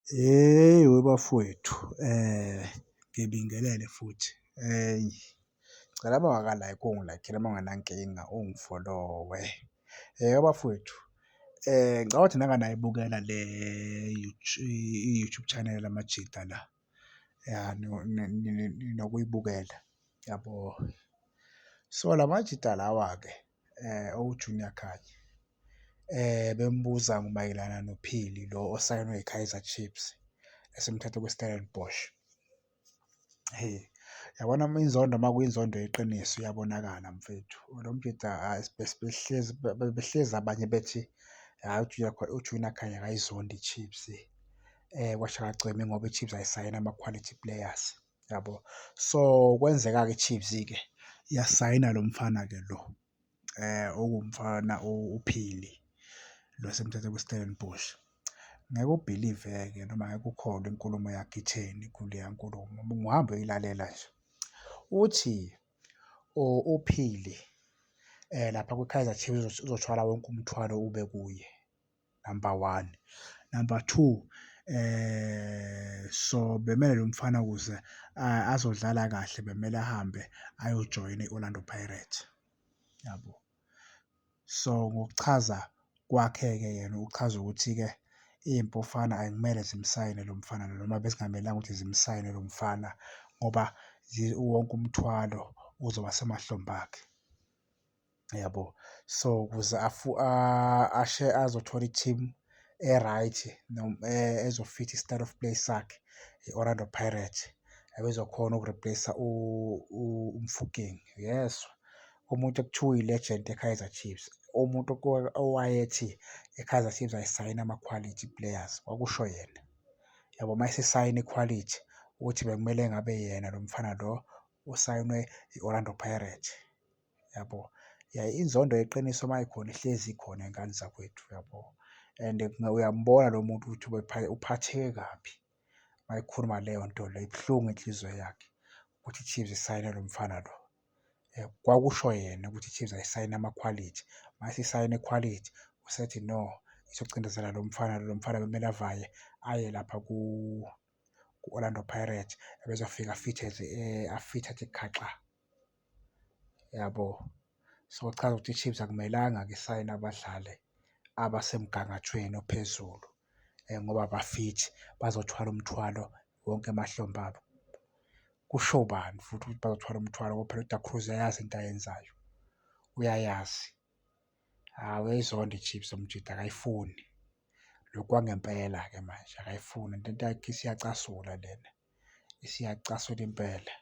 Hheyi webafowethu ngibingelele futhi ngicela uma ungaka-like ungi-like-ele uma ungenankinga ungi-follow-we. Webafowethu ngicabanga ukuthi nake nayibukela le i-YouTube channel yamajita la ya nokuyibukela yabo. So, lamajita lawa-ke. owu-junior Khanye bembuza mayelana noPhili lo osayinwe yiKaizer Chiefs esimthathe kwiStellenbosch. Hheyi, yabona uma inzondo uma kuyinzondo yeqiniso iyabonakala mfethu. Lo mbhida hhayi besihlezi bebehlezi abanye bethi hhayi uJunior uJunior Khanye akayizondi iChiefs kwasho akagcini ngoba iChiefs ayisayini ama-quality players. yabo so kwenzeka-ke iChiefs-ke yasayina lo mfana-ke lo eh okuwumfana uPhili lo semthathe kwiStellenbosch ngeke ubhilive-ke noma ngeke ukholwe inkulumo yakhe itheni kuleya nkulumo ungahambe uyilalela nje uthi uPhili um lapha kwi-Kaizer Chiefs uzothwala wonke umthwalo ube kuye number one. Number two, so bemele lo mfana ukuze azodlala kahle bemele ahambe ayojoyina i-Orlando Pirates, yabo. So ngokuchaza kwakhe-ke yena uchaza ukuthi-ke iy'mpofana akumele zimsayine lo mfana lo noma bezingamelanga ukuthi zimsayine lo mfana ngoba wonke umthwalo uzoba semahlombe akhe. yabo so ukuze afu ashe azothola i-team e-right ezofitha i-style of play sakhe i-orlando pirate ebezokhona ukureplace umfuking yes umuntu ekuthiwa uyi-legend e-kaizer chiefs umuntu owayethi i-kaizer chiefs ayisayina ama-quality players kwakusho yena yabo uma esesayina ikhwalithi ukuthi bekumele ngabe yena lo mfana lo usayinwe i-orlando pirate yabo yaye inzondo yeqiniso uma ikhona ihlezi ikhona ingane zakwethu yabo and uyambona lo muntu ukuthi uphatheke kabi uma ikhuluma leyo nto leyo ibuhlungu inhliziyo yakhe ukuthi i-Chiefs isayine lo mfana lo eh, kwakusho yena ukuthi i-Chiefs ayisayine amakhwalithi uma sisayine ikhwalithi usethi no izocindezela lo mfana lo mfana bekumele avaye aye lapha ku ku-Orlando Pirates ebezofika afithe eh, afithe athi khaxa yabo. So, kuchaza ukuthi iChiefs akumelanga-ke isayine abadlali abasemgangathweni ophezulu ngoba abafithi bazothwala umthwalo wonke emahlombe abo. Kusho bani futhi ukuthi bazothwala umthwalo ngoba phela uDa Cruz uyayazi into ayenzayo, uyayazi. Hhayi uyayizonda iChiefs uMjita akayifuni, lokhu kwangempela-ke manje akayifuni le nto yakhe isiyacasula lena. siyacasula impela.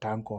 Danko.